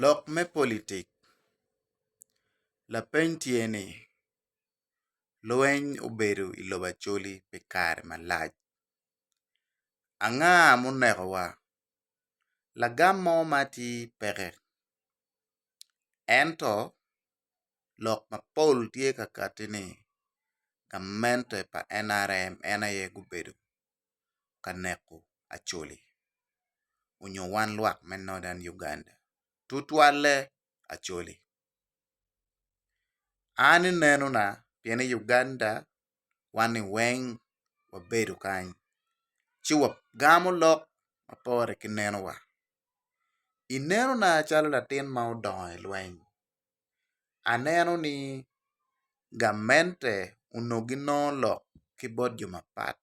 Lok me politik, Lapeny tye ni, Lweny obedo i lobo Acholi pi kare malac. Anga ma onekowa? Lagam mo ma atir peke. Ento lok ma pol tye ka katti ni gamente pa NRM en aye gubedo ka neko Acholi onyo wan lwak me Northern Uganda tutwalle Acholi. An ineno na pien i Uganda wan ni weng wabedo kany ci wagamo lok mapore ki neno wa. Ineno na calo latin ma odongo i lweny aneno ni gamente onongo ginongo lok ki bot jo mapat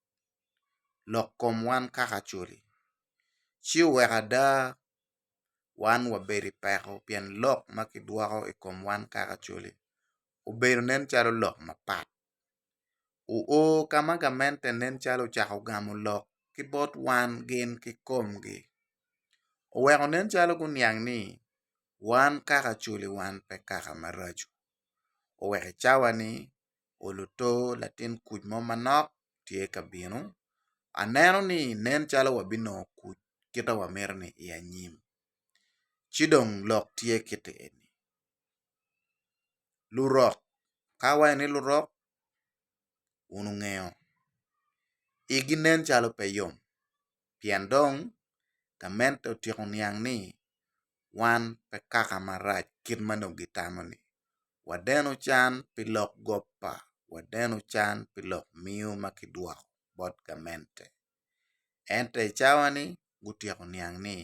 lok kom wan kaka acoli ci oweko ada wan wabedo i peko pien lok ma kidwoko i kom wan kaka acoli obedo nen calo lok mapat oo ka ma gamente nen calo ocako gamo lok ki bot wan gin kikomgi oweko nen calo guniang ni wan kaka culi wan pe kaka maraco. Oweko i cawa ni oluto latin kuc mo manok tye ka bino. Aneno ni nen calo wabinongo kuc kita wamito ni i anyim. Ci dong lok tye kiti eni, lurok ka awaco ni lurok wun wungeyo igi nen calo pe yom. pien dong gamente otyeko niang ni wan pe kaka marac kit ma nongo gitamo-ni. Wadeno can pi lok gop pa, wadeno can pi lok miyo ma kidwoko bot gamente. Ento i cawa-ni, gutyeko niang ni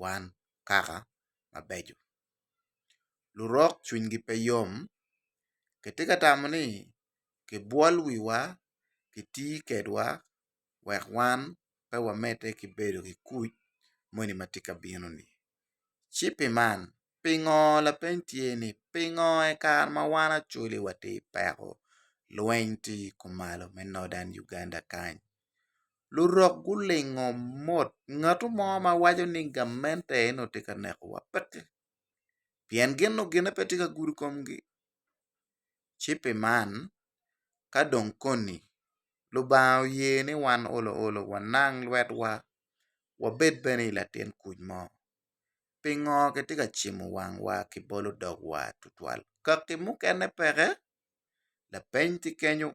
wan kaka mabeco. Lurok cwinygi pe yom. Kitye ka tamo ni kibwol wiwa, kiti kwedwa, wek wan pe wamedde ki bedo ki kuc moni ma tye ka bino-ni. Ci pi man, pingo, lapeny tye ni, pingo i kare ma wan Acholi watye i peko, lweny tye i kumalo me Northern Uganda kany? Lurok gulingo mot, ngatu mo ma waco ni gamente en aye tye ka nekowa peke, pien gin nongo gine pe tye ka gudo komgi. ci pi man ka dong koni Lubanga oye ni wan olo olo wanang lwetwa wabed bene i latin kuc mo, pingo kitye ka cimo wangwa ki bolo dogwa tutwal kaki mukene peke? Lapeny tye kenyo,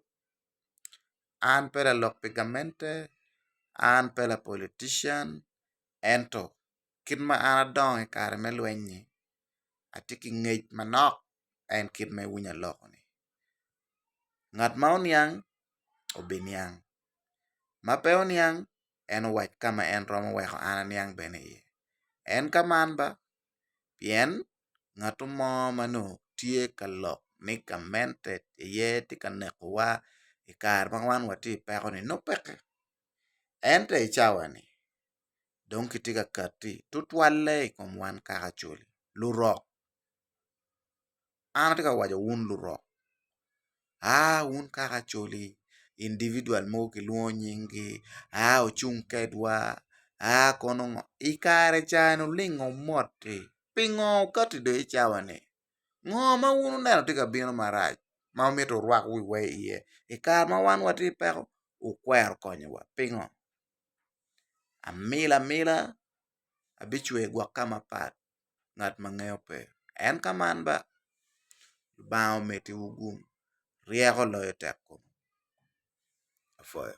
an pe lalok pi gamente, an pe lapolitician ento kit ma an adongo i kare me lweny-nyi atye ki ngec manok en kit ma iwinyo aloko-ni ngat ma oniang obiniang ma pe oniang en owac ka ma en romo weko an aniang bene iye en ka man ba pien ngatu mo ma nongo tye ka lok ni gamente aye tye ka nekowa i kare ma wan watye i peko-ni nongo peke ento i cawa-ni dong kitye ka kati tutwalle i kom wan kaka coli lurok an atye ka waco wun lurok aa wun kaka coli individual mogo kilwongo nyingi aa wucung kedwa aa kono ngo i kare ca ni wulingo wumotti pingo wukati dong i cawa ni ngo ma wun wuneno tye ka bino marac ma wumito wurwak wiwa iye i kare ma wan watye ki peko wukwero konyowa pingo? amila amila abicwe gwok ka mapat ngat ma ngeyo pe en ka man ba lubanga ometi wu gung ryeko loyo tekkom apwoyo.